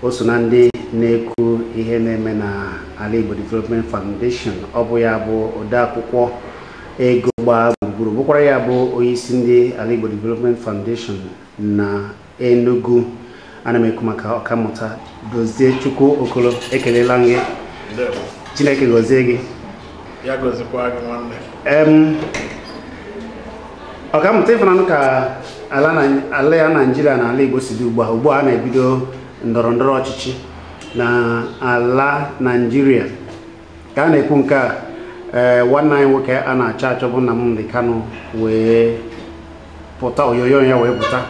o so na ndị na-ekwu ihe na-eme na Alaigbo Development Foundation ọ bụ ya bụ odeakwụkwọ ego gbaa gburugburu bụkwara ya bụ onyeisi ndị Alaigbo Development Foundation na Enugu ana m ekwu maka ọkammụta Dozie Chukwuokolo ekelela m gị Chineke gọzie gị ya gọzikwa gị nwanne ọkammụta ị fụnanụ ka ala anyị Naijiria na ala Igbo si dị ugbu a ugbu a a na-ebido ndọrọ ndọrọ ọchịchị na ala Naijiria ka a na-ekwu nke a ee nwanne anyị nwoke a na-achọ achọ bụ Nnamdi Kanu wee pụta onyonyo ya wee pụta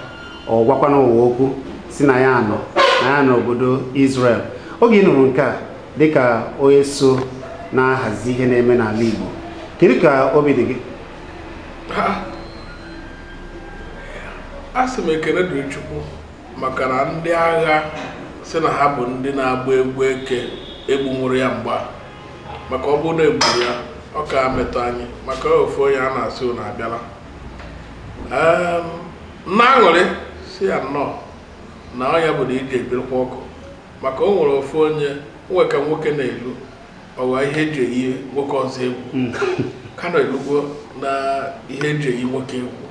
ọ gwakwana ụwa okwu sị na ya anọ na ya nọ n'obodo Israel oge ị nụrụ nke a dịka onye so na-ahazi ihe na-eme n'ala Igbo kedu ka obi dị gị asị m ekele dịrị chukwu maka na ndị agha sị na ha bụ ndị na-agba egwu eke egbunwurọ ya mgbe a maka ọ bụrụ na egburu ya ọ ka-emetụ anyị maka ofu onye a na-asị na abịala na-aṅụrị sị ya nnọọ na ọnya bụ na iji ebirikwa ọkụ maka o nwere ofu onye nwe ka nwoke na-elu ọwa ihe eji eyi nwoke ọzọ egwu hmm. ka na-elugwo na ihe eji eyi nwoke egwu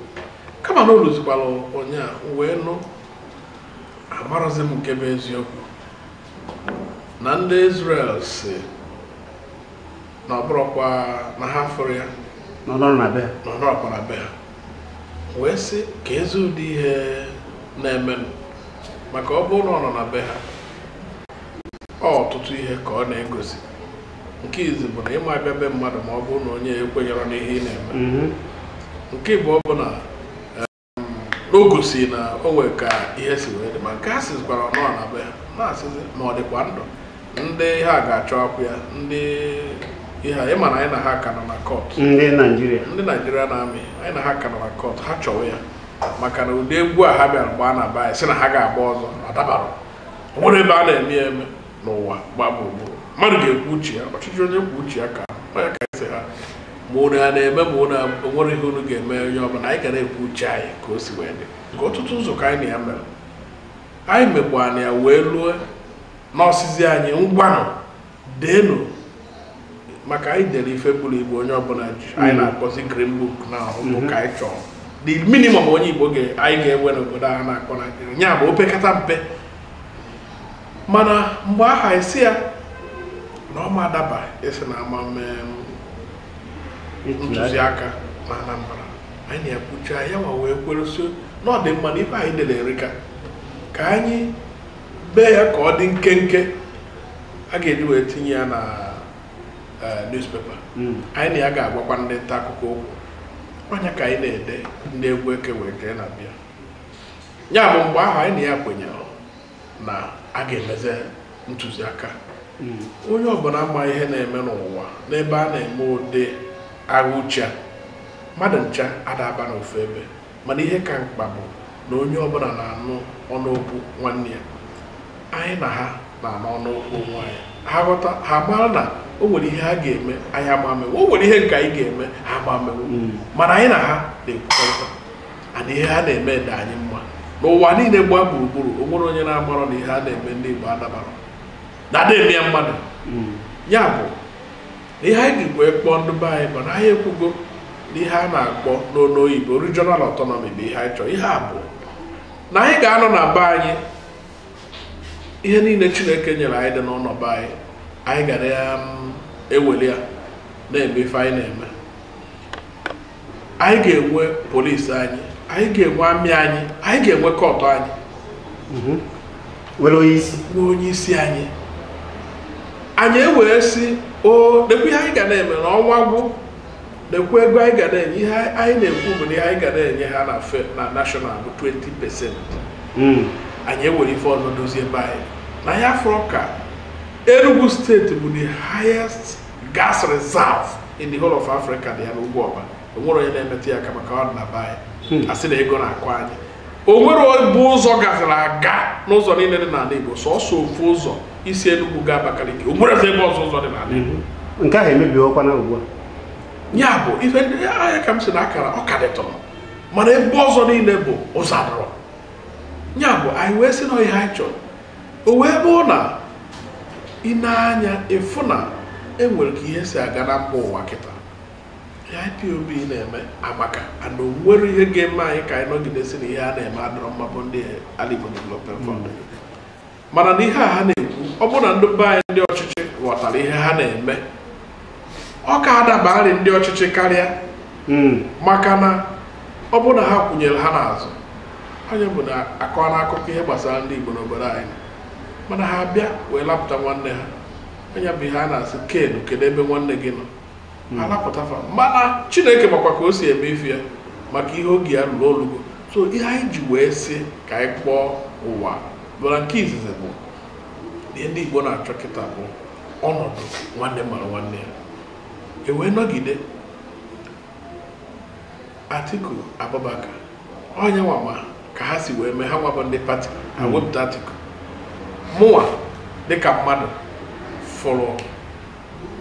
kama na o luzikwara ụnyaahụ wee nụ amarọzi m nke bụ eziokwu na ndị Izrel sị na ọ bụrọkwa na ha fụrụ ya na ọ nọrọkwa na be ha wee sị keezi ụdị ihe na-eme maka ọ bụrụ na ọ nọ na be ha ọtụtụ ihe ka ọ na-egosi nke izi bụ na ị ma abịa be mmadụ ma ọ bụrụ na onye ekwenyerọ n'ihe ị na-eme mhm. nke ịbụọ bụ na o gosi na o nwere ka ihe si wee dị ma nke a sịzikwara ọnụ na be ha na-asịzi ma ọ dịkwa ndụ ndị a ga-achọkwu ya ndị ihe anyị ma na anyị na ha ka nọ na kọt ndị naijiria ndị Nigerian army anyị na ha ka nọ na kọt ha chọwa ya maka na ụdị egwu a ha bịara gbaa na be anyị sị na ha ga-agba ọzọ adabarọ o nwerọ ebe a na-eme ya eme n'ụwa gbaa gburugburu mmadụ ga-ekwu uche ya ọchịchị onye kwuo uche ya ka onye ka esi ha ma unu a na-eme ma unu nwere ihe unu ga-eme onye ọbụla anyị ga na-ekwu uche anyị ka o si wee dị ka ọtụtụ ụzọ ka anyị na ya mere anyị mekwa na ya wee lue na ọ sịzi anyị ngwanụ deenụ maka anyị dere ife buru ibu onye ọbụla ji anyị mm-hmm. na-akpọzi green book na ọhụụ mm-hmm. ka anyị chọrọ the minimum onye igbo anyị ga-enwe n'obodo a na-akpọ naijiria ya bụ opekata mpe mana mgbe ahụ anyị sị ya na ọ ma adaba ịsị na ama eme ntụziaka na Anambra anyị na ya ekwucha ya nwa wee kwere sị na ọ dị mma na ife anyị dere erika ka anyị bee ya ka ọ dị nkenke a ga-eji wee tinye ya na eh, newspaper Mm. anyị na ya ga-agwakwa ndị nta akụkọ okwu ọ nya ka anyị na-ede ndị egwu eke wee jee na be ya ya bụ mgbe ahụ anyị na ya kwenyere na a ga-emezi ntụziaka hmm. onye ọbụla ma ihe na-eme n'ụwa n'ebe a na-eme ụdị agha uche mmadụ ncha ada aba n'ofu ebe mana ihe ka mkpa bụ na onye ọbụla na-anụ ọnụokwu nwanne ya anyị na ha na-anụ ọnụokwu onwe anyị ha ghọta ha mara na o nwere ihe ha ga-eme anyị ama emenwu o nwere ihe nke anyị ga-eme ha ama emenwu hmm. mana anyị na ha na-ekwukọrịta ana ihe ha na-eme dị anyị mma n'ụwa niile gbaa gburugburu o nwere onye na-amarọ na ihe a na-eme ndị Igbo adabarọ na ada eme ya mmadụ ya bụ na ihe anyị jikwa kpọọ ndị be anyị bụ na anyị ekwugo na ihe a na-akpọ n'olu oyibo regional autonomy bụ ihe anyị chọrọ ihe a bụ na anyị ga-anọ na be anyị ihe niile Chineke nyere anyị dị n'ụlọ be anyị anyị ga na-eweli ya na-eme ife anyị na-eme anyị ga-enwe polisi anyị anyị ga-enwe amị anyị anyị ga-enwe kọtụ anyị mhm. nwere onye isi nwee onye isi anyị anyị ewee sị o nekwa ihe anyị ga na-eme na ọnwa gwụ nekwa ego anyị ga na-enye ihe anyị na-ekwu bụ na ihe anyị ga na-enye ha na fe na nashọnal bụ 20 pesent hmm. anyị ewere ife ọzọ dozie ebe anyị na ya fọrọ ka Enugu steeti bụ the highest gas reserve in the whole of Africa dị ya n'Ugwuọba onwere onye na-emetụ ya aka maka ọ dị na be anyị asị na ego na-akọ anyị o nwere obu ụzọ gaziri aga n'ụzọ niile dị n'ala Igbo sọsọ ofu ụzọ i si Enugu gaa Abakaliki o nwere ebe ọzọ ụzọ dị n'ala Igbo nke ahụ emebiwokwana ugbu a ya bụ ife ndị a ya ka m sị na akara ọ ka dịtụrụ mana ebe ọzọ niile bụ ụzọ adịrọ ya bụ anyị wee sị na ihe anyị chọrọ o wee bụrụ na i nee anya ị fụ na enwere ka ihe si aga na mba ụwa kịta ihe IPOB na-eme amaka mana onwere ihe ga-eme anyị ka anyị nọgide sị na ihe ha na-eme adịrọ mma bụ ndị Alaigbo Development Fund mana na ihe a ha na-ekwu ọ bụrụ na ndị be anyị ndị ọchịchị ghọtara ihe ha na-eme ọ ka adabarị ndị ọchịchị karịa hmm. maka na ọ bụrụ na ha kwụnyere ha n'azụ ọ ya bụ na akọ na akụkọ ihe gbasara ndị Igbo n'obodo anyị mana ha bịa wee lapụta nwanne ha ọ ya bụ ihe a na-asị kedu kedu ebe nwanne gị nọ hmm. a lapụta fa mana Chineke makwa ka o si eme ife ya maka ihe oge ya ruru o lugo so ihe anyị ji wee sị ka anyị kpọọ ụwa bụrụ nke izizi bụ ihe ndị Igbo na-achọ kịta bụ ọnọdụ nwanne mara nwanne ya e wee nọgide Atiku Abubakar onye nwa ma ka ha si wee mee ha nwa bụ ndị pati ha hmm. wepụta Atiku mụnwa dịka mmadụ fụrụ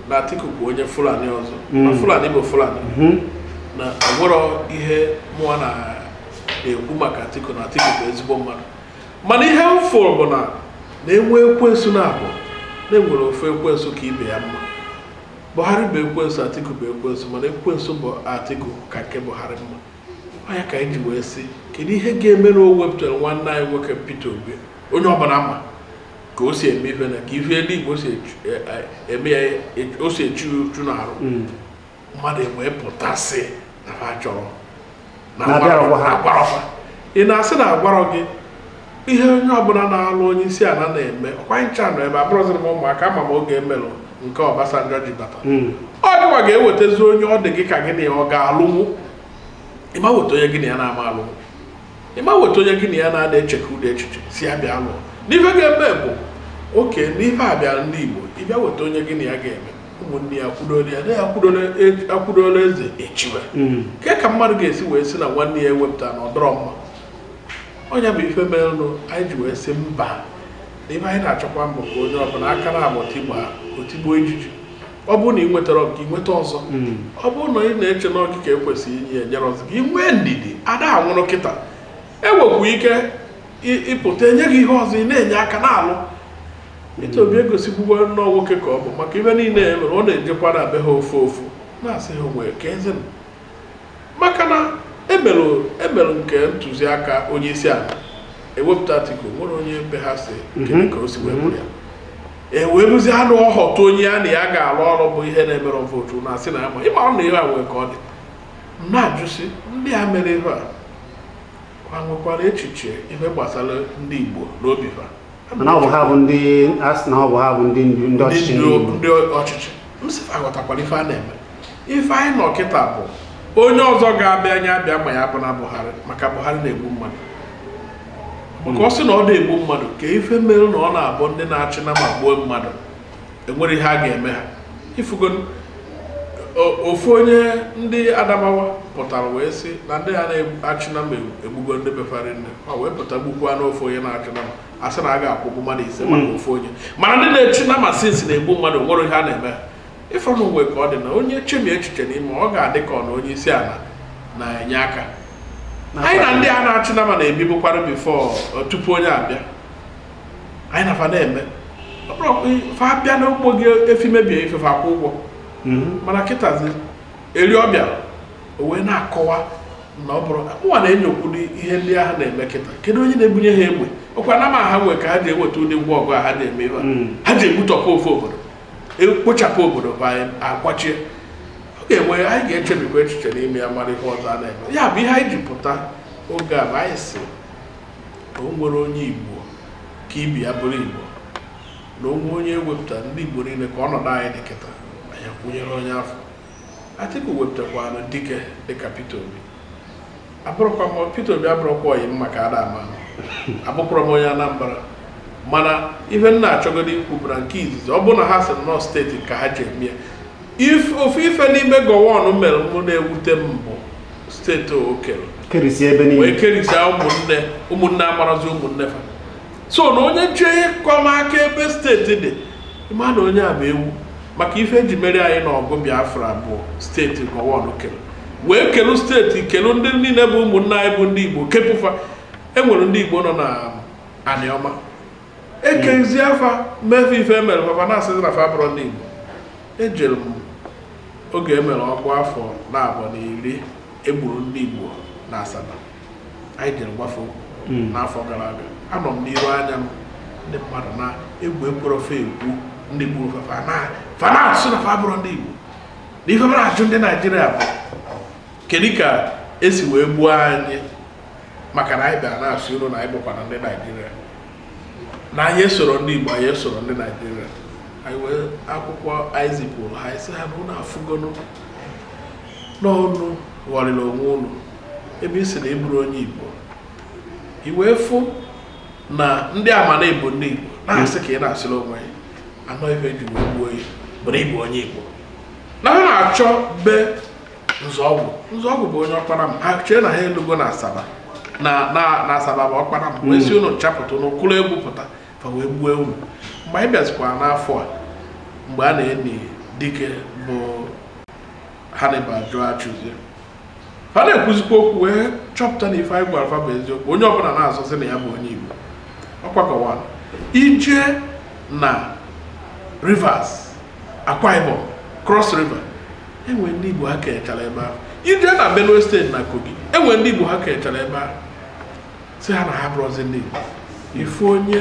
na Atiku bụ onye Fulani ọzọ hmm. na Fulani bụ Fulani hmm. na o nwerọ ihe mụwa na-ekwu maka Atiku na Atiku bụ ezigbo mmadụ mana ihe m fụrụ bụ na e nwee ekwensu naabọ na e nwere ofu ekwensu ka ibe ya mma Buhari bụ ekwensu Atiku bụ ekwensu mana ekwensu bụ Atiku ka nke Buhari mma ọ ya ka anyị ji wee sị kedu ihe ga-eme na o wepụtara nwanne anyị nwoke Peter Obi onye ọbụla ma ka o si eme ife na ka ife eluigwe o si echu- e- e- eme ya e- o si echu uchu na-arụ mmadụ e wee pụta sị na ha chọrọ na Na abịarọkwa ha. agwarọkwa ị na-asị na a gwarọ gị ihe onye ọbụla na-alụ onye isi ala na-eme ọkwa ncha nọ ebe a abụrọzi m ụmụaka ama m oge e melụ nke Obasanjo ji bata Mm. ọ gịwa ga-ewetazi onye ọ dị gị ka gị na ya ọ ga-alụnwu ị ma weta onye gị na ya na-ama alụnwu ị ma weta onye gị na ya na-ada eche ka ụdị echiche si ya bịa lụọ n'ife ga-eme bụ oke n'ife a bịara ndị Igbo ị bịa weta onye gị na ya ga-eme ụmụnne ya akwụdoro ya na ya akwụdoro eze echiwe hmm. ke ka mmadụ ga-esi wee sị na nwanne ya e wepụta na ọ dịrọ mma ọ ya bụ ife merenụ anyị ji wee sị mba na ife anyị na-achọkwa bụ ka onye ọbụla aka naabọ tigbuo ijiji ọ bụrụ na ị nwetarọ gị nweta ọzọ hmm. ọ bụrụ na ị na-eche na ọ gị ka e kwesịrị inye e nyere ọzọ gị nwee ndidi ada anwụrụ kịta e nwekwu ike ịpụta e nye gị ihe ọzọ ị na-enye aka na-alụ Peter Obi egosikwugo nnọọ nwoke ka ọ bụ maka ihe niile e mere ọ na-ejekwa na be ha ofu ofu na-asị ha nwee ka eze m maka na e melụ nke ntụziaka onye isi ala e wepụta Atiku nwere onye be ha sị kedu ka o si wee bụrụ ya e wee ruzie na ọ họta onye ya na ya ga-arụ ọrụ bụ ihe na-emere votu na asị na ya ma ịma ọ na ihe a nwee ka ọ dị m na-ajụsị ndị a mere ihe a ha nwekwara echiche ihe gbasara ndị Igbo n'obi ha mana ọ bụ ha bụ ndị a sị na ọ bụ ha bụ ndị ndu ndị ọchịchị ndị Igbo. ndị ọchịchị m sị fa ghọtakwara ife a na-eme ife anyị nọ kịta bụ onye ọzọ ga-abịa ya bịa ma ya abụna Buhari maka Buhari na-egbu mmadụ maka ọ sị na ọ da egbu mmadụ ke ife mere na ọ na-abụ ndị na-achị nama gbuo mmadụ enwere ihe a ga-eme ha ị fụgo ofu onye ndị adamawa pụtara wee sị na ndị a na-achị nama egbugo ndị be fa ri nne ha wee pụta gbukwanụ ofu onye na-achị nama a sị na a ga-akwụgbu mmadụ ise maka hmm. ofu onye mana ndị na-achị nama sị si na-egbu mmadụ nwere ihe a na-eme ha ịfọnụ uwe ka ọ dị na onye chemie echiche n'ime ọ ga-adị ka ọ na onye isi ala na-enye aka anyị na ndị a na-achị nama na-ebibukwara before tupu onye a bịa anyị na fa na-eme ọ bụrụ ọkpụ fa bịa n'ugbo gị efi mebie ife fa akwụ ụgwọ mana kịtazi eri ọ bịa o wee na-akọwa na ọ bụrụ mụnwa na-enyokwuru ihe ndị ahụ na-eme kịta kedu onye na-ebunye ha egbe ọkwa nama ha nwee ka ha ji eweta ụdị ngwa ọgụ a ha ji eme ife a. Mm. ha ji egbutọpụ ofu obodo ekpochapụ obodo be anyị akwachie ọ ga-enwe anyị ga-echebikwa echiche n'ime ya mara ihe ọzọ a na-eme ya bụ ihe anyị ji pụta oge a bụ anyị sị na o nwere onye Igbo ka ibe ya bụrụ Igbo na o nwee onye e wepụta ndị Igbo niile ka ọnọdụ anyị dị kịta anyị akwụnyere onye afụ Atiku wepụtakwanụ dike dịka Peter Obi abụrọkwa m Peter Obi abụrọkwa oyi m maka ada ama abụkwara m onye Anambra mana ife m na-achọgodu ikwu bụ na nke izizi ọ bụ na ha sị na ọ steeti ka ha ji eme ya If- ofu ife n'ime Gowon mere mụ na-ewute m bụ steeti o kere kerisi ebe wee niile kerichaa ụmụnne ụmụnne amarazi ụmụnne fa so na onye chọọ ịkọ m aka ebe steeti dị ị ma na onye a bụ ewu maka ife eji meri anyị n'ọgụ Biafra bụ steeti Gowon kelu wee kelu steeti kelu ndị niile bụ ụmụnne anyị bụ ndị igbo kepụ fa enwere ndị igbo nọ na Anịọma ekezia fa mee fa ife emere fa fa ana-asịzi na fa abụrọ ndị Igbo ejere m oge emere ọgụ afọ naabọ na iri egburu ndị Igbo na Asaba anyị jere mgbe afụ hmm. n'afọ gara aga anọ m n'iru anya m ndị mmadụ na egwu ekwerọ fa egwu ndị gburu fa fa na fa na-asị na fa abụrọ ndị Igbo na ife m na-ajụ ndị Naijiria bụ kedu ka esi wee gbuo anyị maka na anyị bịara na-asị unu na anyị bụkwanụ ndị naijiria na anyị esorọ ndị igbo anyị esoro ndị naijiria anyị wee akwụkwọ anyị zipụrụ ha anyị sị ha na unu afụgonụ na unu ghọrịrị onwe unu ebe ị sị na ị bụrọ onye igbo i wee fụ na ndị ama na igbo ndị igbo na-asị ka ị na-asịrị onwe ya anọ ife ji wee gbuo ya bụrụ igbo onye igbo na ha na-achọ be Nzeogwu Nzeogwu bụ onye Okpanam ha chee na ha elugo na Asaba na na na Asaba bụ Okpanam wee sị unu chapụta unu kụrụ egwu pụta fa wee gbuo unu mgbe anyị bịazikwara n'afọ a mgbe a na-eni dike bụ Hannibal Joe Achuzie fa na-ekwuzikwa okwu wee chọpụta na ife anyị gwara fa bụ eziokwu onye ọbụla na-azọzi na ya bụ onye Igbo ọ kwa Gowon i jee na Rivers Akwa Ibom Cross River e nwere ndị Igbo ha kenyechara ebe ahụ i jee na Benue steeti na Kogi e nwere ndị Igbo ha kenyechara ebe ahụ sị ha na ha abụrọzi ndị Igbo ị fụ onye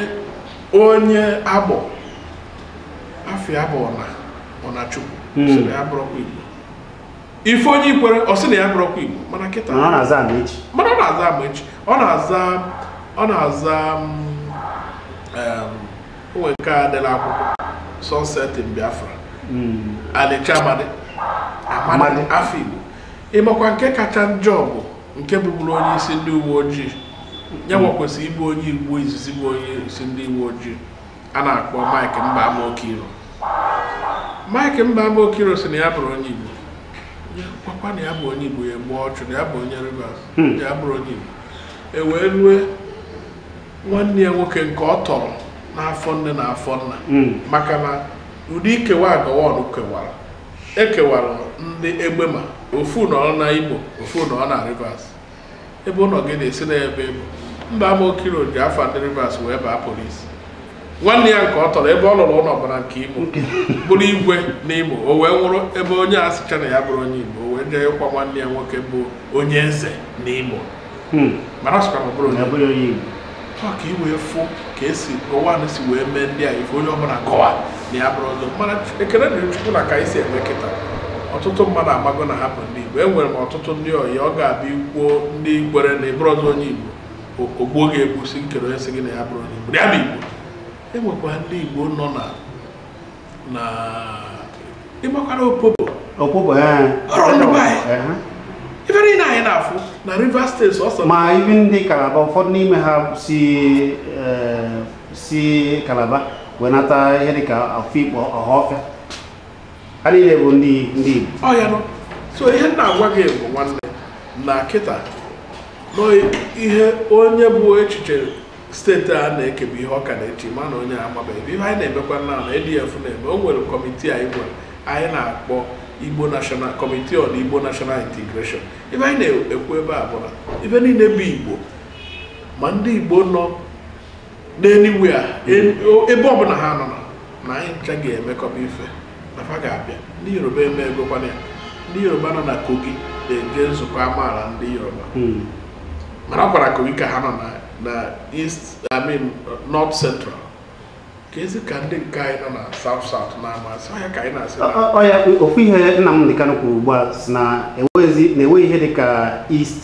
onye Agbor afa ya bụ Ọnachukwu hmm. sị na ya abụrọkwa Igbo ị fụ onye Ikwere ọ sị na ya abụrọkwa Igbo mana kịta mana ọ na-aza Amaechi mana ọ na-aza Amaechi ọ na-aza ọ na-aza mm, o nwere nke a dere akwụkwọ Sunset in Biafra Mm. Elechi Amadi Amadi Amadi. afa Igbo ịmakwa nke kacha njọ bụ nke bụburu onye isi ndị uwe ojii ya nwa kwesịrị ịbụ onye Igbo izizi bụ onye isi ndị uwe ojii a na-akpọ Mike Mbama Okiro Mike Mbama Okiro sị na ya abụrọ onye Igbo Ya gwakwa na ya bụ onye Igbo ya gbuo ọchụ na ya bụ onye Rivers Hmm. ya abụrọ onye Igbo e wee rue nwanne ya nwoke nke ọ tọrọ n'afọ nne na afọ nna hmm. maka na ụdị ikewa Gowon kewara e kewara ndị Egbema ofu nọrọ na Imo ofu nọrọ na Rivers ebe ụlọ gị dị sị na ebe ị bụ Mbama Okiro ji afa ndị Rivers wee baa polisi nwanne ya nke ọ tọrọ ebe ọ lụrụ ụlọ bara nke Imo bụrụ igwe na Imo o wee nwụrụ ebe onye a sịcha na ya abụrọ onye Igbo o wee jee ịkwa nwanne ya nwoke bụ onye eze na Imo Hmm. mana ọ sịkwa na ọ bụrọ onye bụrọ onye Igbo ka ị wee fụ ka esi Gowon si wee mee ndị a ife onye ọbụla gọwa na ya abụrọzi mana ekele dịrị Chukwu na ka anyị si eme kịta ọtụtụ mmadụ amago na ha bụ ndị Igbo enwere m ọtụtụ ndị ọyị ọ ga-abụ i kwuo ndị Ikwere na ị bụrọzi onye Igbo o gbuo gị egbu sị kedụ onye sị gị na ya abụrọ onye Igbo ya bụ Igbo enwekwa ndị Igbo nọ na na ị makwara Opobo Opobo eh. ọrụ ndị be anyị eh, eh. ife niile anyị na-afụ na Rivers steeti so ma even ndị Kalaba ụfọdụ n'ime ha si si Kalaba wee nata ihe dịka Afikpo Ọhafịa ha niile bụ ndị ndị Igbo ọ ya nọ so ihe m na-agwa gị bụ nwanne na kịta na ihe onye bụ echiche steeti a na-ekebe ihe ọ ka na-eche mana onye amabeghị ihe anyị na-emekwa na na ADF na-eme o nwere kọmitii anyị nwere anyị na-akpọ Igbo National Committee on Igbo National Integration ife anyị na-ekwu ebe a bụ na ife niile bụ Igbo ma ndị Igbo nọ n'anywhere ebe ọbụla ha nọ na anyị ncha ga-emekọba ife na fa ga-abịa ndị yoruba eme egokwana ya ndị yoruba nọ na kogi na-eje nzukọ amaala ndị yoruba hmm. mana ọ kwara kogi ka ha nọ na east i mean north central ka ezi ka ndị nke anyị nọ na south south na-amasị ọya ka anyị na-asị ọya ofu ihe nnamdi kanu kwuru ugbu a sị na enweghị ihe dịka east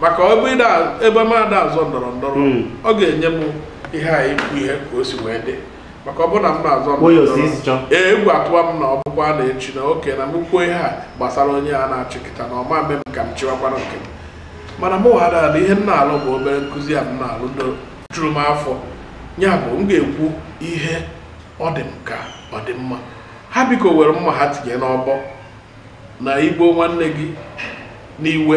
maka ọ bụ ebe m ada azọ ndọrọ ndọrọ Mm. ọ ga-enye m ihe a ikwu ihe ka o si wee dị maka ọ bụ na m na-azọ ndọrọ Oyo si isi chọ. ndọrọ ee egwu atụwa m na ọ bụkwa na echi na oke na m kwuo ihe a gbasara onye a na-achị kịta na ọ ma mme m ka m chịwakwara nke m mana mụ wa ada na ihe m na-alụ bụ obere nkụzi a m na-alụ juru m afọ ya bụ m ga-ekwu ihe ọ dị m ka ọ dị mma ha biko were mma ha tinye n'ọbọ na i gbuo nwanne gị n'iwe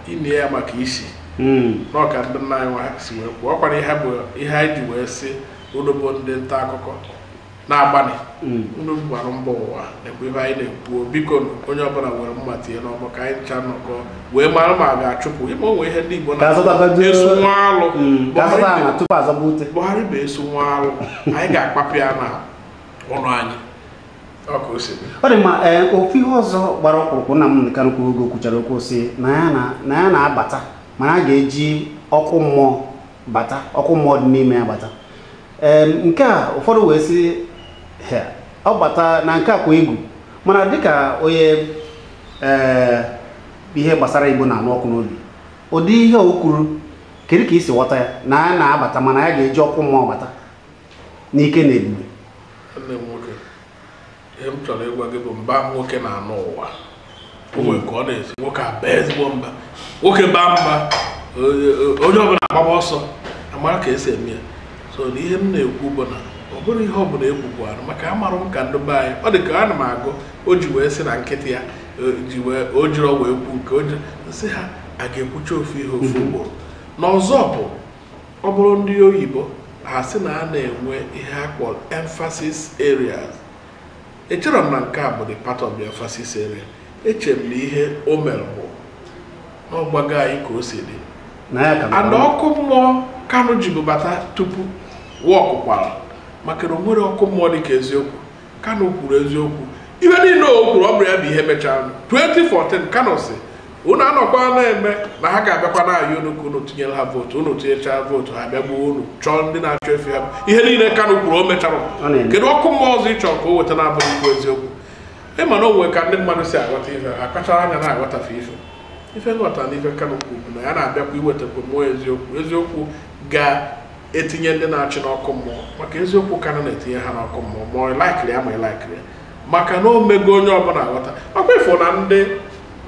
i nie ya maka isi hmm. na ọ ka ndị nna anyị nwa si wee kwuo ọ kwara ihe bụ ihe anyị ji wee sị unu bụ ndị nta akụkọ na-agbanị hmm. unu gbara mbọ ụwa nakwa ihe anyị na-ekwu biko onye ọbụla were mma tinye n'ọbọ ka anyị ncha nọkọ wee mara ma a ga-achụpụ ime onwe ihe ndị Igbo na-esu nwa alụ hmm. Buhari bụ esu nwa alụ anyị ga-akpapụ ya na ụlọ anyị ọ dị mma ee eh, ofu ihe ọzọ gbara ọkpụrụkpụ nnamdi kanu kwuru oge kwuchara okwu sị na ya na-abata mana ya ga-eji ọkụ mmụọ bata ọkụ mmụọ dị n'ime ya bata ee nke a ụfọdụ wee sị ọ bata na nke a kwa egwu mana dịka onye ee eh, ihe gbasara igbo na-anụ ọkụ n'obi ụdị ihe o kwuru kedu ka i si ghọta ya na ya na-abata mana ya ga-eji ọkụ mmụọ bata n'ike na ebube nne m nwoke ihe m chọrọ ịgwa gị bụ mba nwoke na-anụ ụwa o nwere ka ọ na-esi nwoke aba ezigbo mba nwoke baa mba onye ọbụla agbaba ọsọ a mara ka e si eme ya so na ihe m na-ekwu bụ na ọ bụrụ ihe ọ bụla e kwukwarụ maka amarụ m ka ndị be anyị ọ dị ka ana m agụ o ji wee sị na nkịtị ya ji wee o jiri ọgwụ ekwu nke o jiri nsị ha a ga-ekwucha ofu ihe ofu ugboro na ọzọ bụ ọ bụrụ ndị oyibo ha sị na a na-enwe ihe a kpọrọ emphasis areas echere m na nke a bụ the part of the emphasis area eche m na ihe o mere bụ na ọ gwago anyị ka o si dị and ọkụ mmụọ kanu jibu bata tupu wọkụ kwara maka na o nwere ọkụ mmụọ dị ka eziokwu kanu kwuru eziokwu ihe niile o kwuru ọ bụrụ ya bụ ihe mechara 2014 kanu sị unu anọkwa na-eme na ha ga-abịakwa na-ayọ unu ka unu tinyere ha vootu unu tinyechaa vootu ha bịa gbuo unu chọọ ndị na-achị efi ha ihe niile kanu kwuru o mechara Ọ na-eme. kedu ọkụ mmụọ ọzọ ị chọrọ ka o weta na-abụghị ikwu eziokwu ị ma na o nwere ka ndị mmadụ si aghọta ife ha kpachara anya na-aghọtafe ife ife nghọta na ife kanu kwuru bụ na ya na-abịakwa iwetakwa mmụọ eziokwu eziokwu ga etinye ndị na-achị n'ọkụ mmụọ maka eziokwu Kanu na-etinye ha n'ọkụ mmụọ ma ị laikịrị ya ma ị laikịrọ ya maka na o mego onye ọbụla aghọta ọkwa ị fụ na ndị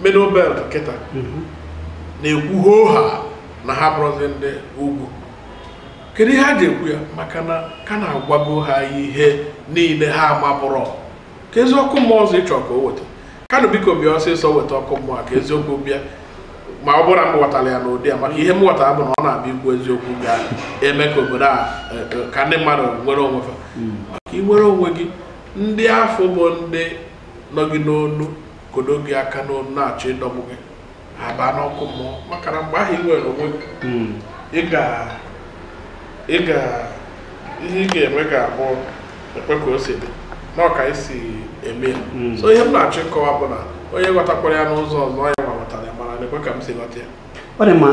middle belt kịta mhm. na-ekwu hoohaa na ha abụrọzi ndị ugwu kedu ihe ha ji ekwu ya maka na Kanu agwago ha ihe niile ha amabụrọ keezi ọkụ mmụọ ọzọ ị chọ ka o weta Kanu biko bịa ọsịsọ weta ọkụ mmụọ a ka eziokwu bịa ma ọ bụrụ na m ghọtara ya n'ụdị a maka ihe m ghọtara bụ na ọ na-abịa ikwu eziokwu ga-eme ka obodo a e, e, ka ndị mmadụ nwere onwe fa maka i nwere onwe gị ndị afụ bụ ndị nọ gị n'onu kodo gị aka n'onu na-achọ ịdọgbu gị abaa n'ọkụ mmụọ maka na mgbe ahụ i nwere onwe hmm. ị ga ị ga ihe ị ga-eme ga-abụ ekwe ka o si dị na ọ ka i si eme ya hmm. so ihe m na-achọ ịkọwa bụ na onye ghọtakwara ya n'ụzọ ọzọ yanwa ghọtara ya mana nekwe ka m si ghọta ya ọ dị mma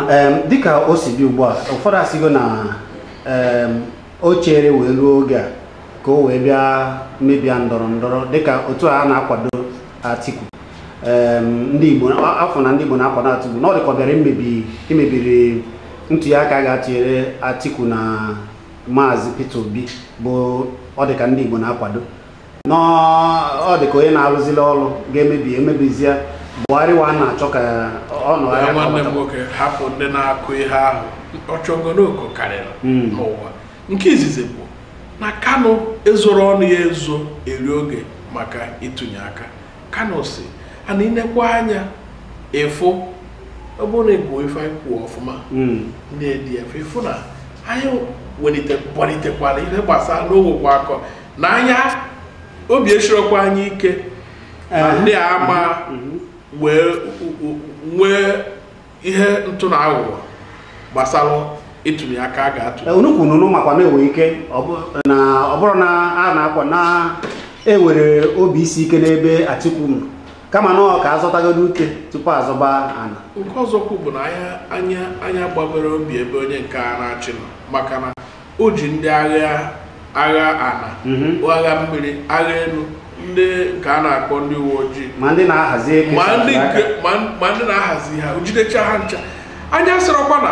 dịka o si dị ugbu a ụfọdụ asịgo na o chere wee ruo oge a ka o wee bịa mebia ndọrọ ndọrọ dịka otu a na-akwado Atiku ndị Igbo afụ na ndị Igbo na-akwado Atiku na ọ dịka ọ bịara imebi imebiri ntuli aka a ga-atụnyere Atiku na Maazị Peter Obi bụ ọ dịka ndị Igbo na-akwado na ọ dị ka onye na-arụzili ọrụ ga-emebi emebizie Buhari wa na-achọ ka ọ nọ ya ya nwanne m kpọbata. nwoke hapụ ndị na-akọ ihe ahụ ọchọnganooko karịrị Mm. n'ụwa nke izizi bụ na Kanu ezoro ọnụ ya ezo eri oge maka ịtụnye aka Kanu sị and i nekwa anya ị fụ ọ bụrụ na ị gụọ ife anyị kwuru ọfụma Mm. ndị ADF ị fụ na anyị welite kpọlitekwara ihe gbasara na e nwekwa akọ na anyị obi esirokwa anyị ike na ndị a ama enwe ihe ntụ na aghụghọ gbasara ịtụnye aka a ga-atụ Eh, unu kwuru unu makwa na-enwe ike ọ bụ- na ọ bụrọ na a na-akọwa na e nwere obi isi ike n'ebe Atiku nọ kama na ọ ka a zọtagodu ute tupu a zọba ana nke ọzọkwụ bụ na anyị anyị anyị agbabero obi ebe onye nke a na-achị nọ maka na o ji ndị agha agha ana Mhm. agha mmiri agha elu ndị nke a na-akpọ ndị uwe ojii ma ndị na-ahazi ha jidecha ha ncha anyị asịrọkwa na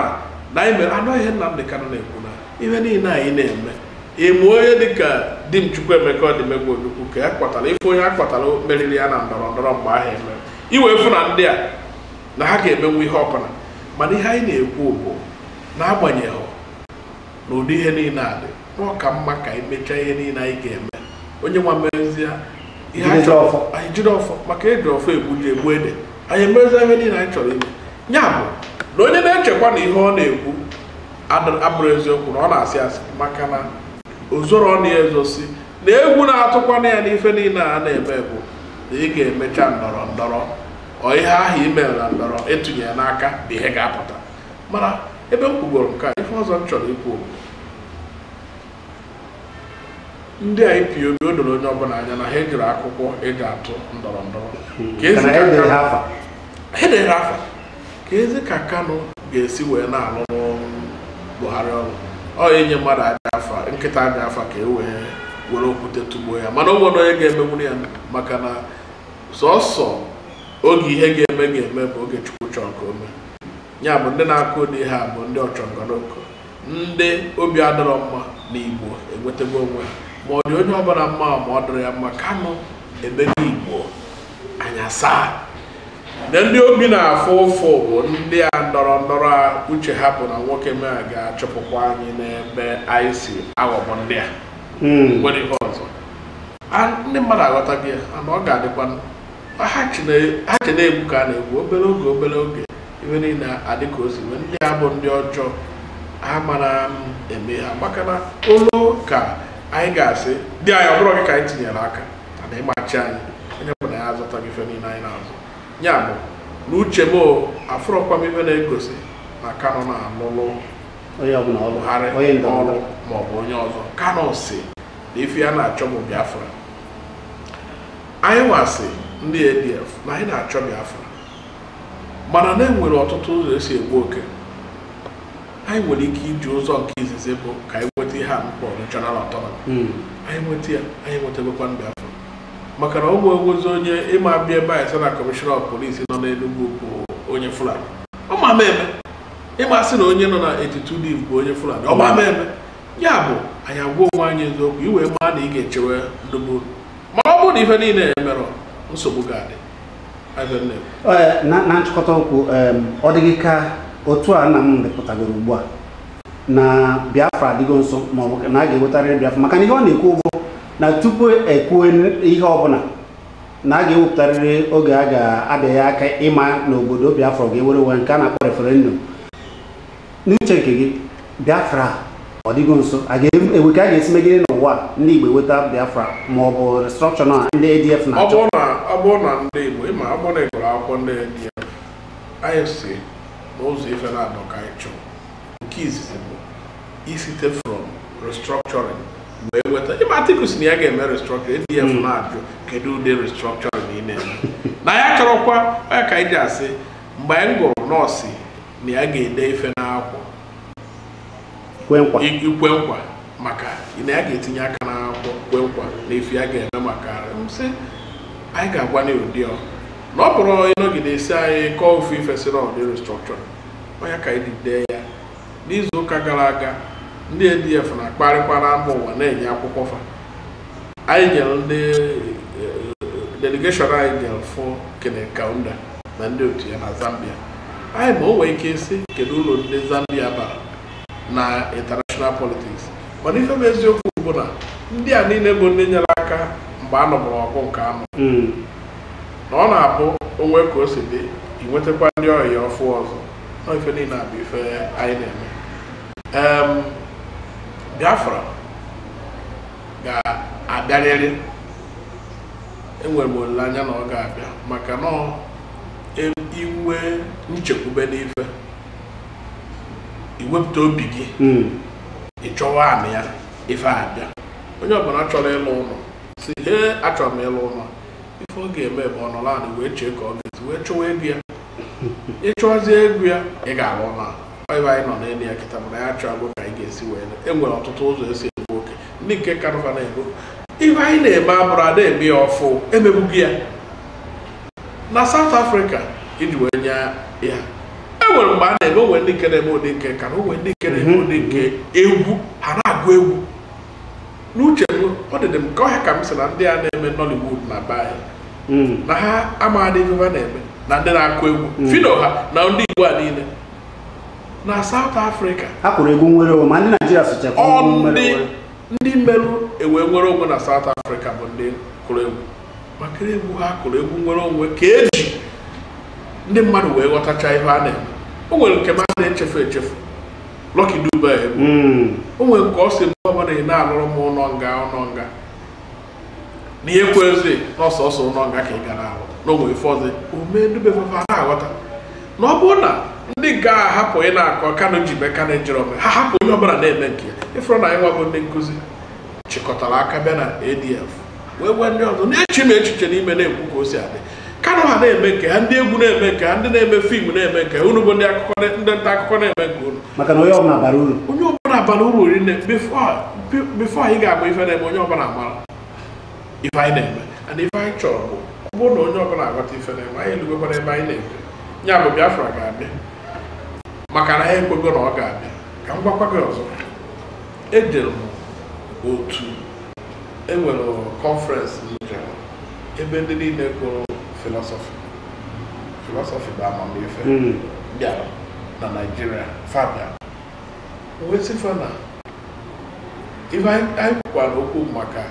na anyị mere anụ ihe Nnamdi Kanu na-ekwu na ihe niile anyị na-eme e mee onye dịka Dim Chukwuemeka Odumegwu Ojukwu ka ya kpọtara ife onye a kpọtara meriri ya na ndọrọ ndọrọ mgbe ahụ e mere ị wee fụ na ndị a na ha ga-emenwu ihe ọbụla mana ihe anyị na-ekwu bụ n'agbanyeghị na ụdị ihe niile a dị na ọ ka mma ka anyị mechaa ihe niile anyị ga-eme onye nwa mezie ihe anyị Jide chọrọ ọfọ. anyị jide ọfọ maka eji ọfọ egbu ji egbu ede anyị emezie ihe niile anyị chọrọ ime ya bụ na onye na-echekwa na ihe ọ na-ekwu adị- abụrọ eziokwu na ọ na-asị asị maka na ozoro ọ na-ezo si na egwu na-atụkwanụ ya n'ife niile a na-eme bụ na ị ga-emecha ndọrọ ndọrọ ọ ihe ahụ i mere na ndọrọ e tinye ya n'aka bụ ihe ga-apụta mana ebe m kwugoro nke a ife ọzọ m chọrọ ikwu bụ ndị a ipob o doro onye ọbụla anya na ha ejirọ akwụkwọ eji atụ ndọrọ ndọrọ Ka ezi Mana ka edere Kanu- ha afa. ha edere ha afa kezi ka Kanu ga-esi wee na-alụlụ Buhari ọrụ ọ inye mmadụ ajọ afa nkịta ajọ afa ka e wee were okwute tụgbuo ya mana o nwerọ onye ga-emenwuru ya maka na sọsọ oge ihe ga-eme ga-eme bụ oge Chukwu chọrọ ka o mee ya bụ ndị na-akọ ụdị ihe a bụ ndị ọchọnganooko ndị obi adịrọ mma na igbo enwetago onwe ha ma ọ dị onye ọbụla mma ma ọ dịrọ ya mma Kanu emego igbo anya saa na ndị obi na-afụ ụfụ bụ ndị a ndọrọ ndọrọ a uche ha bụ na nwoke m a ga-achụpụkwa anyị n'ebe anyị si aghọgbu ndị a nwere ihe ọzọ A- ndị mmadụ aghọtaghị ya ana ọ ga-adịkwa ha che na egwu ka a na-egwu obere oge obere oge ife niile adị ka o si wee ndị a bụ ndị ọjọọ ha mara m eme ha maka na olu ka anyị ga-asị dị anyị ọ bụrọ gị ka anyị tinyere aka na ị ma-achị anyị onye bụ na ya azụta gị ife niile anyị na-azụ ya bụ na uche m o, afụrọkwa m ife na-egosi na Kanu na-alụlụ onye ọbụla ọ bụ Buhari onye ọrụ ndọrọndọrọ maọbụ onye ọzọ Kanu si na ife ya na-achọ bụ biafra anyị nwa sị ndị ADF na anyị na-achọ Biafra mana na e nwere ọtụtụ ụzọ e si egbu oke anyị nwere ike iji ụzọ nke izizi bụ ka anyị nweta ihe a na-akpọ regional autonomy hmm. anyị nweta ya anyị nwetagokwa Biafra maka na ọ ma enwezi onye ị ma abịa ebe anyị sị na commissioner of police nọ n'Enugwu bụ onye Fulani ọ ma eme ị ma asị na onye nọ na 82 div bụ onye Fulani ọ ma eme ya bụ anyị agwa onwe anyị eziokwu i wee maa na ị ga-echewe Ndigbo ma ọ bụrụ na ife niile a emerọ nsogbu ga-adị ebe m na-ekwu Ee, na na nchịkọta okwu em, ọ dị gị ka otu a Nnamdi pụtagoro ugbu a na biafra adịgo nso maọbụ na a ga-ewetarịrị biafra maka na ihe ọ na-ekwu bụ na tupu e kwuo ihe ọbụla na a ga-ewepụtarịrị oge a ga-abịanye aka ịma na obodo biafra ọ ga-enwere onwe nke a na-akpọ referendum n'uche nke gị biafra ọ dịgo nso e nwee ka a ga-esi megide n'ụwa a, ndị igbo eweta biafra ma ọ bụ restructuring a ndị adf ọ na-achọ bụrụ na ọ bụrụ na ndị igbo ị ma ọ bụrụ na ị gụrụ akwụkwọ ndị adf anyị sị na ụzọ ife naabọ ka anyị chọọ nke izizi bụ isite from restructuring wee weta ị ma atiku sị na ya ga-eme restructuring adf na-ajụ kedu ụdị restructuring ị na-eme na ya chọrọkwa ọ ya ka anyị ji asị mgbe anyị gụrụ nọọsụ na ya ga-ede ife n'akwụkwọ kwe nkwa i- ikwe nkwa maka na ya ga-etinye aka n'akwụkwọ kwe nkwa na ife ya ga-eme maka arịa m sị anyị ga-agwa na ụdị ọ na ọ bụrụ ị nọgide ị sị anyị kọọ ofu ife si na ụdị restructuring ọ ya ka anyị ji dee ya n'izu ụka gara aga ndị ADF na-akparịkwa na mba ụwa na-enye akwụkwọ fa anyị nwere ndị eh, delegation anyị jere fụ Kenneth Kaunda na ndị otu ya na Zambia anyị ma o nwee ike ịsị kedu uru ndị Zambia bara na international politics mana ife bụ eziokwu bụ na ndị a niile bụ ndị nyere aka mgbe a nụburu ọgụ nke anụ hmm. na ọ na-abụ o nwee ka o si dị i nwetakwa ndị ọyị ọfụụ ọzọ na ife niile a bụ ife anyị na-eme Biafra ga-abịarịrị enwere m olileanya na ọ ga-abịa maka na inwe nchekwube n'ife i wepụta obi gị hmm. ị chọwa anị ya ife abịa onye ọbụla chọrọ ịlụ ụlọ sị he achọrọ m ịlụ ụlọ ife ọ ga-eme bụ ọ nọrọ anị wee chee ka ọ ga-esi wee chọwa ego ya ị chọzie ego ya ị ga-arụ ụlọ a ebe anyị nọ n'elu ya kịta mana ya chọọ ka anyị ga-esi wee e nwere ọtụtụ ụzọ e si egbu oke ndị nke Kanu fa na-egbu ife anyị na-eme abụrụ ada eme ya ọfụ e mebugo ya na South Africa iji wee nye ya enwere mgbe a na-eme o nwee ndị nke na-eme ụdị nke Kanu o nwee ndị nke na-eme ụdị nke egwu ha na-agụ egwu n'uche m ọ dịdị m ka ọ ya ka m sị na ndị a na-eme Nollywood na be anyị hmm. na ha amaghadị ife ha na-eme na ndị na-akụ egwu hmm. Phyno ha na ndị Igbo a niile na South Africa ha kụrụ egwu nnwere onwe ma ndị Naijiria socha ndị mere e wee nwere onwe na South Africa bụ ndị kụrụ egwu maka egwu ha kụrụ egwu nnwere onwe ka e ji ndị mmadụ wee ghọtacha ihe a na-eme o nwere nke m a na-echefu echefu Lucky Dube egwu hmm. o nwere nke ọ sị mgbe ọbụla ị na-alụrụ m ụlọ nga ụlọ nga na ihe kwezi na ọ sọsọ ụlọ nga ka ị bịa na-arụ na o nwee ife ọzọ o me Dube fafa na-aghọta na ọ bụrụ na ndị nke a hapụ ịna-akọ Kanu ji mee Kanu ejiro mee ha hapụ onye ọbụla na-eme nke ya ị fụrụ na anyị nwa bụ ndị nkụzi chịkọtara aka bịa na ADF wee gwa ndị ọzọ na-echemi echiche n'ime na-ekwu ka o si adị kanu ha na-eme nke ha ndị egwu na-eme nke ha ndị na-eme fim na-eme nke ha unu bụ ndị akụkọ na- ndị nta akụkọ na-eme nke unu maka na onye ọbụla bara uru onye ọbụla bara uru rinne bifo anyị ga-agba ife na-eme onye ọbụla amara ife anyị na-eme and ife anyị chọrọ bụ ọ bụrụ na onye ọbụla aghọta ife na-eme anyị elugokwara ebe anyị na-eje ya bụ biafra ga-abịa maka na ha ekwego na ọ ga-abịa ka m gwakwa gị ọzọ ejere m otu e nwere kọnferensị m jere ebe ndị niile gụrụ filọsọfị filọsọfị bụ amamife Mm. bịara na naijiria fa bịa wee sị fa na ife anyị anyị kwukwara okwu maka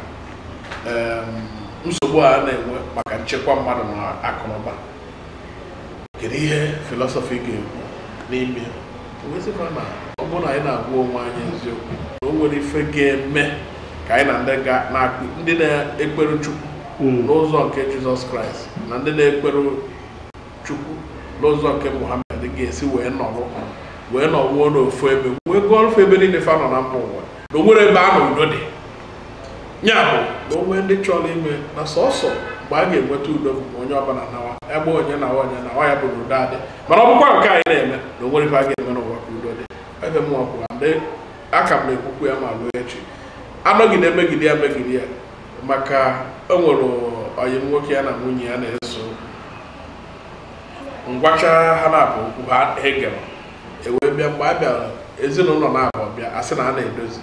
em, nsogbu a na-enwe maka nchekwa mmadụ na akụnụba kedu ihe filọsọfị ga-ekwu n'ime wee sị fa na ọ bụrụ na anyị na-agwa onwe anyị eziokwu na o nwerọ ife ga-eme ka anyị na ndị ga- na-akụ ndị na-ekpere chukwu n'ụzọ nke jizọs kraịst na ndị na-ekpere chukwu n'ụzọ nke muhammed ga-esi wee nọrọ wee nọruo n'ofu ebe wee gụọrọ fa ebe niile fa nọ na mba ụwa na o nwerọ ebe a na udo dị ya bụ na o nwee ndị chọrọ ime na sọsọ mgbe a ga-enweta udo bụ onye ọbụla nawa be onye na onye na ya bụ na udo adị mana ọ bụkwa nke anyị na-eme na o nwerọ ife a ga-eme n'ụwa ka udo dị ebe m ọbụ aka m na-ekwukwu ya ma ruo echi anọgide megide ya megide ya maka o nwere ọyị m nwoke ya na nwunye ya na-ese m gwacha ha naabụ okwu ha egerọ e wee bịa mgbe a bịara ezinụlọ naabụ bịa a sị na a na-edozi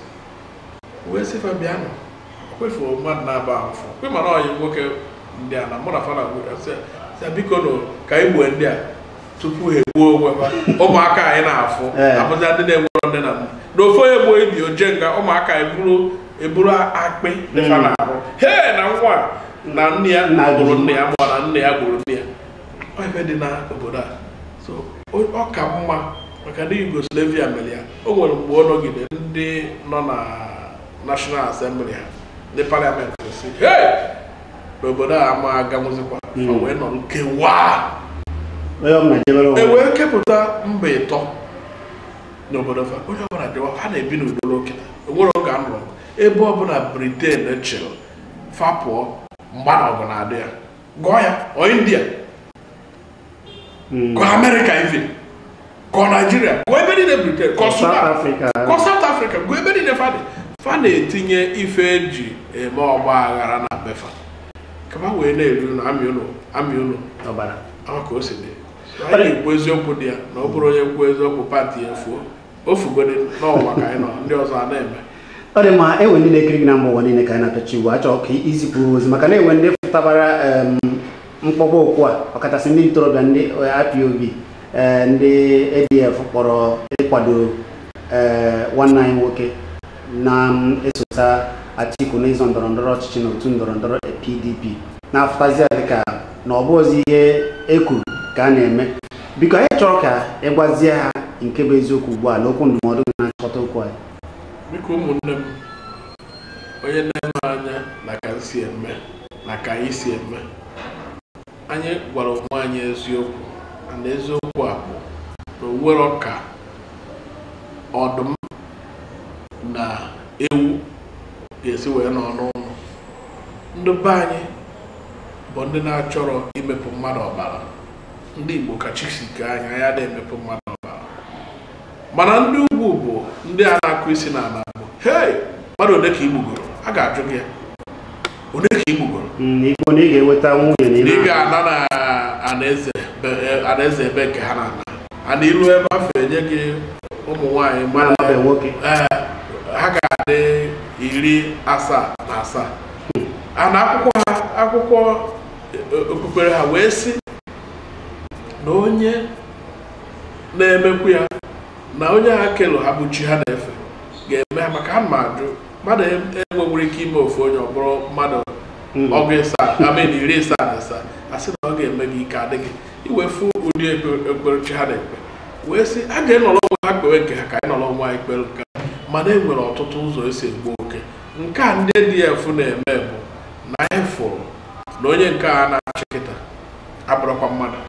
wee sị fa bịanụ kefuo mmadụ naabọ afụ kwe mara ọyị nwoke ndị a na mụ na fa na sị biko nụ ka anyị gboo ndị a tupu ha egbuo onwe ha ụmụaka anyị na-afụ eh. abụzia ndị na-enwerọ nne na nna na ofu onye gbuo ibe o je nga ụmụaka anyị bụrụ eburu akpị dị fa hmm. n'ahụ he na nwa na nna ya gburu nne ya ma na nne ya gburu nna ya ebe dị na obodo a so ọ ka mma maka ndị Yugoslavia mere ya o nwere mgbe ọ nọgide ndị nọ na National Assembly ha ndị parliament sị "Hey! na obodo a ama aganwụzikwa Mm. o wee nọ nkewa onye ọbụla jebere onwe e wee kepụta mba ịtọ n'obodo fa onye ọbụla dịwa ha na-ebi n'udo ruo kịta o nwere oge a nụrụ ebe ọbụla briten chịrị fa pụọ mgba na ọgụ na-adị ya gụọ ya ọ india ka amerịka even ka naijiria ka ebe niile briten ka sudan ka saut afrịka ka ebe niile fa dị fa na-etinye ife e ji eme ọgba aghara na be fa ka fa wee na-eri na-amị unu amị unu ọbara ka o si dị anyị na-ekwu eziokwu dị ya na ọ bụrụ onye kwuo eziokwu pati ya fuo ofugodi n'ụwa ka anyị nọ ndị ọzọ a na-eme ọ dị mma enwe ndị na-ekiri gị na mba ụwa niile ka anyị na-apịachi ugbu a achọrọ ka izipụ ozi maka na enwe ndị fụtabara em, mkpọkpọ okwu a ọkachasị ndị ntorobịa ndị eh, IPOB eh, ndị ADF kpọrọ ịkwado eh, nwanne anyị nwoke na-esota Atiku n'ịzọ ndọrọ ndọrọ ọchịchị na otu ndọrọ ndọrọ PDP na-afụtazi ya dịka na ọ bụrọzi ihe ekwuru ka a na-eme biko anyị chọrọ ka ị gwazie ha nke bụ eziokwu ugbu a na okwu ndụmọdụ gị na-achịkọta okwu anyị biko ụmụnne m onye na-ene anya na ka m si eme na ka anyị si eme anyị gwara onwe anyị eziokwu na eziokwu a bụ na o nwerọ ka ọdụm na ewu ga-esi wee nọ n'ụlọ ndị be anyị bụ ndị na-achọrọ imepụ mmadụ ọbara ndị Igbo ka chi si kee anyị anyị adịghị emepụ mmadụ ọbara mana ndị ugwu bụ ndị a na-akụ isi na ala bụ hei mmadụ ole ka igbugoro a ga-ajụ gị ya ole ka igbugoro Mm, i gbuo na ị ga-enweta nwunye na ndị ị ga-ana na anaeze be- eh, anaeze ebe nke ha na-ana ana i rue ebe afụ enye gị ụmụ nwaanyị mara na-amabe nwoke ee ha ga-adị iri asaa na asaa a na akwụkwọ ha akwụkwọ okpukpere ha wee sị na onye na-emekwu ya na onye a kelụ ha bụ chi ha na-efe ga-eme ha maka ha ma ajụ mmadụ enwewere ike ime ofu onye ọ bụrụ mmadụ hmm. ọgụ ịsaa I mean iri ịsaa na ịsaa a sị na ọ ga-eme gị ike adịghị iwefu ụdị ekpere chi ha na-ekpe wee sị a ga-enọrọ onwe ha kpewe nke ha ka anyị nọrọ onwe anyị kpere nke mana e nwere ọtụtụ ụzọ esi egbu oke nke a ndị ADF na-eme bụ na anyị fụrụ na onye nke a na-achị kịta abụrọkwa mmadụ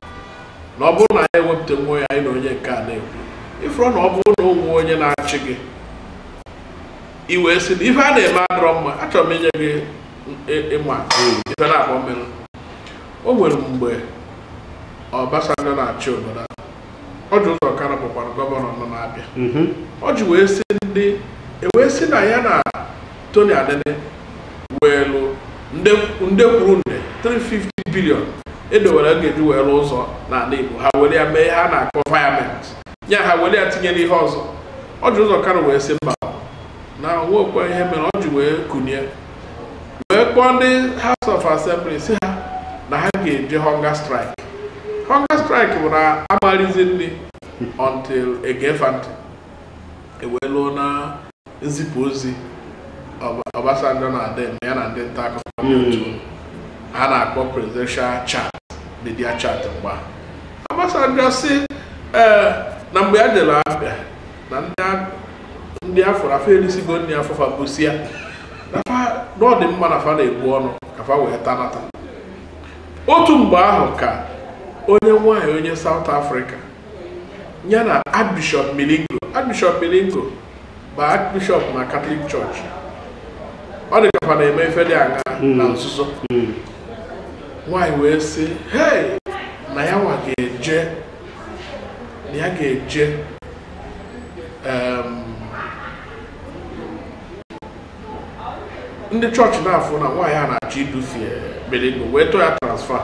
na ọ bụrụ na anyị ewepụta nwa ya anyị na onye nke a na-ekwu ịfụrụ na ọ bụrụ na o nwee onye na-achị gị i wee sị na ife a na-eme adịrọ mma achọrọ m inye gị ịma ife na-akpọ mmiri o nwere mgbe Obasanjo na-achị obodo a Orji Uzor Kalu bụkwara gọvanọ nọ na Abịa Orji wee sị ndị ewee sị na ya na Tony Anenih weelụ nde nde kwuru nde 350 billion edowere a ga-eji wee rụọ ụzọ n'ala Igbo ha were ya mee ihe a na-akpọ virement ya ha were ya tinye n'ihe ọzọ Orji Uzor Kalu wee sị mba na nwekwa ihe mere o ji wee kunie wee kpọọ ndị House of Assembly sị ha na ha ga-eje hunger strike hunger strike bụ na amarizi nri until egee fa ntị ewee lụọ na nzipụ ozi Obasanjo na-adị eme ya na ndị nta akụkọ hmm. ha na-akpọ presidential chat media chat mgbe Obasanjo si ee eh, na mgbe ya jere Abịa na ndị afọ afọ erisigo nri afọ fa busia na ọ dị mma na fa na-ebu ọnụ ka fa wee tanata otu mgbe ahụ ka onye nwanyị onye South Africa ya na Archbishop Milingo Archbishop Milingo bụ Archbishop na Catholic Church ọ dị ka fa na-eme ife dị anya hmm. na nzuzo hmm. nwaanyị wee sị hei na ya nwa ga-eje na ya ga-eje ndị chọọchị na-afụ na nwaanyị a na-achọ idufie Milingo wee tụọ ya transfer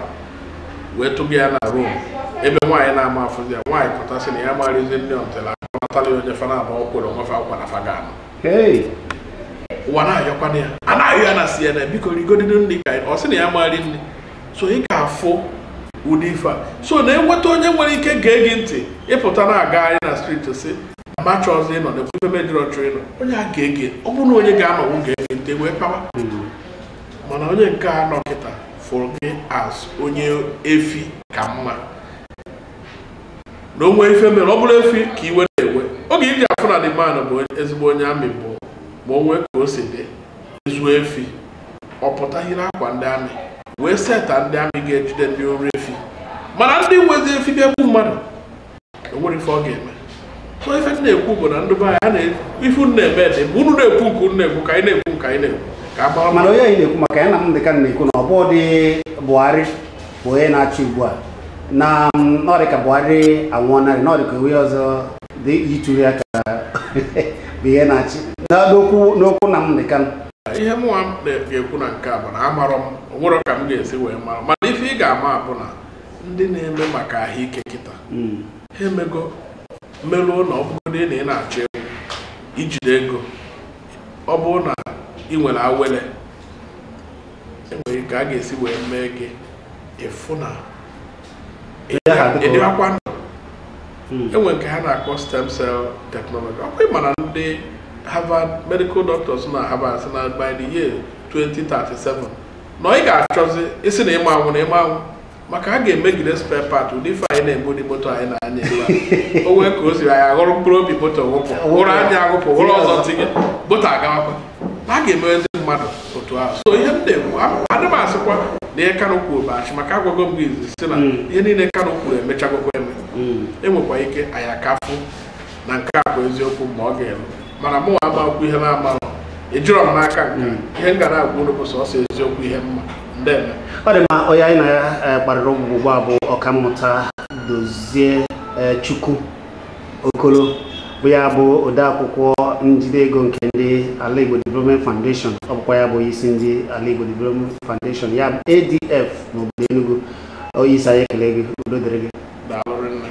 wee tụga ya na Rome ebe nwaanyị na-ama afụ ya nwaanyị pụta sị na ya ma erizi nri until akpọnatala ya onye fa naabọ kwere onwe fa nkwa na fa ga-anụ Hey. ụwa na-ayọkwana ya a na-ayọ ya na CNN biko rigodide nri ka anyị- ọ sị na ya ma eri nri so ị ga-afụ ụdị ife a so na-enweta onye nwere ike gee gị ntị ị pụta na-agagharị na street si ma chọọzi ịnọ na ekwu ife mejọrọ chọọ ịnọ onye a ga-ege ọ bụrụ na onye ga-anọwụ ga-ege ntị wee kpawa mana onye nke a nọ kịta fụrụ gị as onye efi ka mma na o nwee ife mere ọ bụrụ efi ka iwe na-ewe oge i ji afụ na the man bụ ezigbo onye army bụ ma o nwee ka o si dị e zuo efi ọ pụta yiri akwa ndị army wee seta ndị army ga-ejide ndị ori efi mana ndị nwezi efi ga-egbu mmadụ enwerọ ife ọ ga-eme so ife m na-ekwu bụ na ndị be anyị a na ife unu na-eme dị mgbe unu na-ekwu nke unu na-ekwu ka anyị na-ekwu nke anyị na-ekwu ka a gbara mana onye anyị na-ekwu maka ya Nnamdi Kanu na-ekwu na ọ bụdị Buhari bụ onye na-achị ugbu a na m, na ọ dị ka Buhari anwụọnarị na ọ dị ka onye ọzọ dị yitụrụ ya ka bụ ihe na-achị Na n'okwu n'okwu Nnamdi Kanu ihe mụnwa m na-ekwu na nke a bụ na amarọ m o nwerọ ka m ga-esi wee mara mana ife ị ga-ama bụ na ndị na-eme maka ahụike kịta hmm. ha emego meruo na ọ bụgodị na ị na-achọ ịnwụ i jide ego ọ bụrụ na ị nwere awele enwere ka a ga-esi wee mee gị ị fụ na ị dịwakwa ndụ hmm. enwere nke ha na-akpọ stem cell technology ọkwa ị ma na ndị Harvard medical doctors na Harvard sị na by the year 2037 na ị ga-achọzi ịsị na ị ma anwụ na ị ma anwụ maka a ga-emegide spare part ụdị ife anyị na-eme ụdị moto anyị na-anya ebe a. o nwee ka o siri anyị aghọrọ mkpụrụ obi moto wụpụ wụrụ anya agụpụ were ọzọ tinye moto agawakwa na a ga-emewe ndị mmadụ otu ahụ so ihe m na-ekwu a- adị m asịkwa na ihe Kanu kwuru bụ asị maka agwago m gị izizi na Mm. ihe niile Kanu kwuru emechagokwa eme enwekwa ike anyị akafụ na nke a bụ eziokwu ma ọ ga-elu mana mụ ama ekwu ihe m na-amarọ ejirọ m n'aka nke ihe m ga na-agwa unu bụ sọsọ eziokwu ihe mma ndeme ọ dị mma onye anyị na ya eh, kparịrị ụbụbọ ugbu a bụ ọkammụta dozie eh, chukwuokolo bụ ya bụ odeakwụkwọ njide ego nke ndị ala igbo development foundation ọ bụkwa ya bụ onye isi ndị ala igbo development foundation ya bụ adf n'obodo enugu onye isi anyị ekele gị udo dịrị gị daalụ rinne